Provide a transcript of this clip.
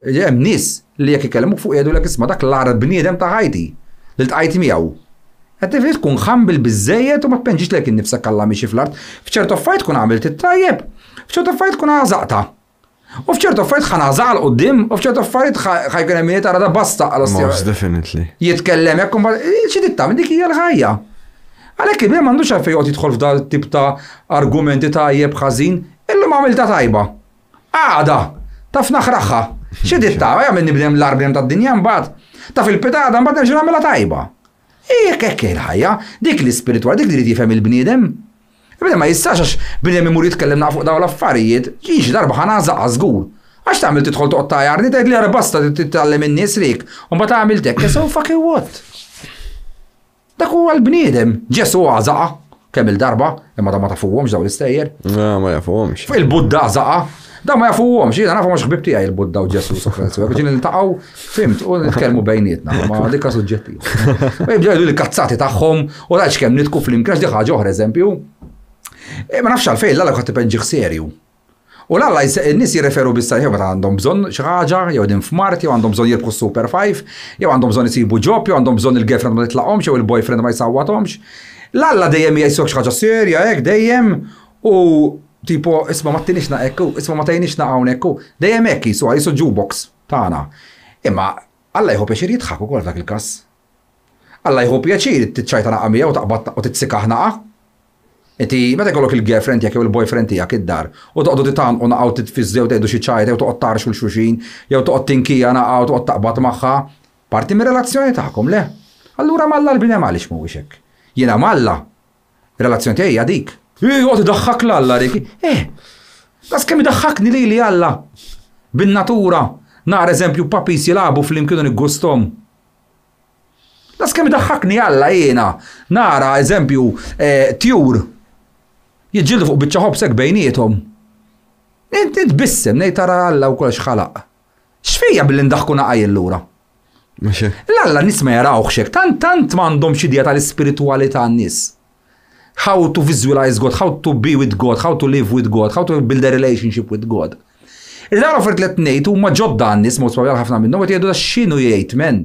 Hemm nies li jekk ikellmuk fuq jgħidulek isma' dak l-agħar bniedem ta' ħajti li ltqajt miegħu. Qed nifhimx tkun humble biżżejjed u ma tpenġix lejk innifsek Alla miexi fl-art. F'ċertu affarijiet tkun għamilt it-tajjeb, f'ċertu affarijiet tkun għażaqtha. U f'ċertu affarijiet ħa ngħażaq 'l quddiem u f'ċertu affarijiet ħa jkun hemm min jgħid ara basta għal ostja. Most definitely. Jitkellem hekk u mbagħad xi trid tagħmel dik hija l-ħajja. Għalhekk il-bniedem m'għandux għalfejn joqgħod jidħol f'dan it-tip ta' argumenti tajjeb ħażin, illum għamiltha tajba. Għada, taf naħraħħa. Xi ditta, jagħmel nibdem l-arbjem tad-dinja mbagħad. Taf il-pitada mbagħad nerġa' nagħmilha tajba. Jekk hekk il-ħajja, dik l-ispiritwal, dik li jrid jifhem il-bniedem. Bniedem ma jistax għax bniedem imur jitkellem naqfu fuq dawn l-affarijiet, ġiex darba ħana żaqqa żgur. Għax tagħmel tidħol toqgħod tajarni tgħid li basta titgħallem in-nies rik, u mbagħad għamiltek, so fucking what? Dak huwa l-bniedem. Ġesù għażaqa kemm il-darba, imma da ma tafuhomx daw l-istejjer. Ah, ma jafuhomx. Il-Budda għażaqa, da ma jafuhomx. Jiena nafu mhux ħbib tiegħi il-Budda u Ġesù Sokratisu. Biex niltaqgħu, fimt, u nitkellmu bejnietna, ma dikka suġġettiv. U jibdew jgħidu l-kazzati tagħhom u rajx kemm nitku flimkien għax ħaġa oħra eżempju. Eh, ma nafx għalfejn l-għalek għat serju. U la la, in-nies jirreferu biss għalih jew meta għandhom bżonn xi ħaġa, jew qegħdin f'mard, jew għandhom bżonn jirbħu s-Super Five, jew għandhom bżonn isibu ġob, jew għandhom bżonn il-girlfriend ma titlaqhomx jew il-boyfriend ma jsawwathomx. L-Alla dejjem jqisok xi ħaġa serja hekk dejjem u tipo isma' ma ttinixna hekk u isma' ma tgħinixna hawnhekk u dejjem hekk qisu, qisu jukebox tagħna. Imma Alla jieħu pjaċir jidħak ukoll f'dak il-każ. Alla jieħu pjaċir tiċċajtanaqa miegħu u taqbadtnaqa u titsikahnaqa. Inti meta jkollok il-girlfriend tiegħek jew il-boyfriend tiegħek id-dar u toqgħodu titgħannqunaqa u titfiżżu jew tgħidu xi ċajta jew toqgħod tgħarrxu 'l xulxin jew toqgħod tinkijanaqa u toqgħod taqbad magħha, parti mir-relazzjoni tagħkom, le? Allura m'Alla l-bnedem għaliex m'huwiex hekk? Jiena m'Alla, ir-relazzjoni tiegħi hija dik. Joqgħod idaħħak 'l Alla dik. Eh! Daqskemm idaħħakni lili Alla! Bin-natura, nara eżempju papis jilagħbu flimkien u niggusthom. Las kemm idaħħakni Alla jiena nara eżempju eh, tjur jiġġieldu fuq biċċa ħobsek bejniethom. Inti tbissem ngħid tara Alla u kollox ħalaq. X'fija billi ndaħku naqajl lura? L-Alla nis ma jarawx hekk, tant tant m'għandhom xi idea tal-ispiritwalità n-nies. How to visualize God, how to be with God, how to live with God, how to build a relationship with God. Il-għara fert li t-nejt u maġodda għannis, mod ħafna minnhom, għet jgħidu da xinu jgħid men.